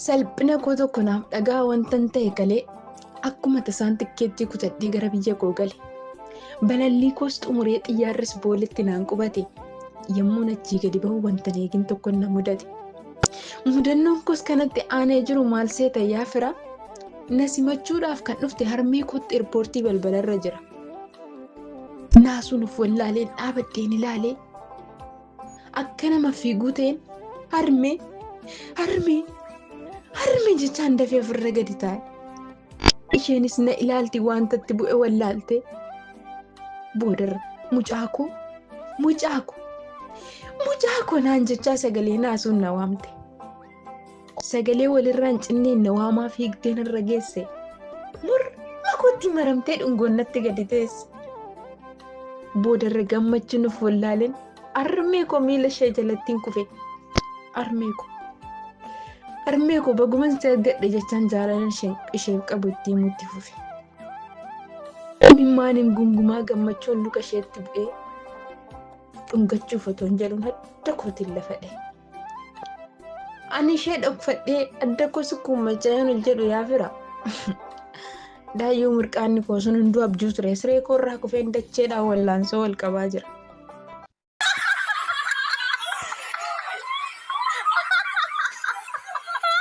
Salphina koo tokko naaf dhagaa wantan ta'e galee akkuma tasaan tikkeettii kutadhee gara biyya koo gale. Balallii koos xumuree xiyyaarris booletti naan qubate. Yommuun achii gadi bahu wantan eegin tokko na mudate. Mudannoon koos kanatti aanee jiru maal seeta yaa fira? Na simachuudhaaf kan dhufte harmee kootti irpoortii balbalarra jira. Naasuun of wallaaleen dhaabadheen ilaalee Akka nama fiiguu ta'een harmee harmee harmee jechaan dafee ofirra gadi taa'e. Isheenis na ilaalti wantatti bu'e wallaalte. Boodarra mucaakoo mucaakoo mucaakoo naan jechaa sagalee naasuun na waamte. Sagalee walirraan cinneen na waamaa fiigdee narra geesse. Morma kootti maramtee dhungoon natti gadi teesse. Boodarra gammachuu nuuf wallaaleen armee koo miila ishee jalattiin kufe. Armee koo. Armee koo baguman si argadhe jechaan jaalala isheef qabu itti himuutti fufe. Imimmaaniin gungumaa gammachuun luka isheetti bu'ee dhungachuuf otoo hin jedhuun adda kootiin lafa dha'e. Ani ishee dhokfadhee adda koo sukkuummachaa yoon hojjedhu yaa fira. Daayyoo mirqaanni koo sun hunduu abjuu ture. Siree koo irraa kufeen dacheedhaan wallaansoo wal qabaa jira.